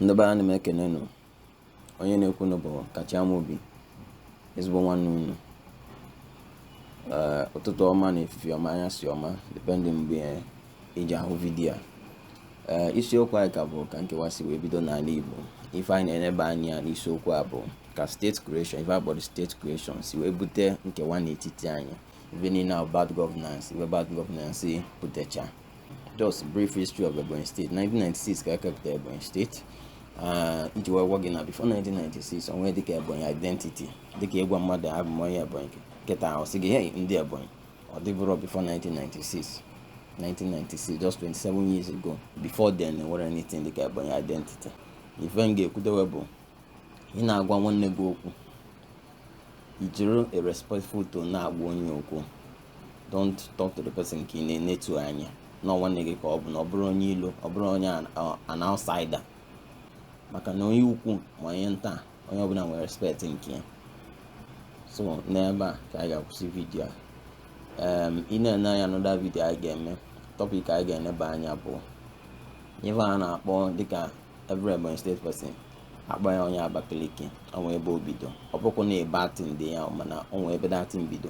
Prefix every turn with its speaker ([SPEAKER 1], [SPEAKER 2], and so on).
[SPEAKER 1] ndị be anyị ana m ekene nụ onye na-ekwu nụ bụ Kachi Amobi ezigbo nwanne unu ụtụtụ ọma na efifi ọma anyasị ọma depending mgbe i ji ahụ vidiyo a isiokwu anyị ka bụ ka nkewa si wee bido n'ala Igbo ife anyị na-eneba anya n'isiokwu a bụ ka state creation ife a kpọrọ state creation si wee bute nkewa n'etiti anyị ife niile ahụ bad governance ife bad governance butecha just brief history of Ebonyi State 1996 ka e kepụta Ebonyi State ah, iji wee gwa gị na before 1996 o nwe dịka Ebonyi identity dịka ịgwa mmadụ abụ m onye Ebonyi kịta ọ sị gị hey ndị Ebonyi ọ dịburọ before 1996 1996 just 27 years ago before then enwerọ anything dịka Ebonyi identity ife m ga-ekwudewe bụ ị na-agwa nwanne gị okwu i jiri a respectful tone na-agwa onye okwu don't talk to the person ka ị na-enetu anya na nwanne gị ka ọ bụ na ọ bụrụ onye ilo ọ bụrụ onye an outsider maka na onye ukwu ma onye nta onye ọbụla nwere respect nke ya so n'ebe a ka anyị ga-akwụsị vidiyo a ị na-ene anya another vidiyo anyị ga-eme topic anyị ga-eneba anya bụ ife a na-akpọ dịka every Ebonyi State person akpọ ya onye Abakaliki o nwe ebe o bido ọ bụkwa na ebe atin dị ya mana o nwe ebe that thing bido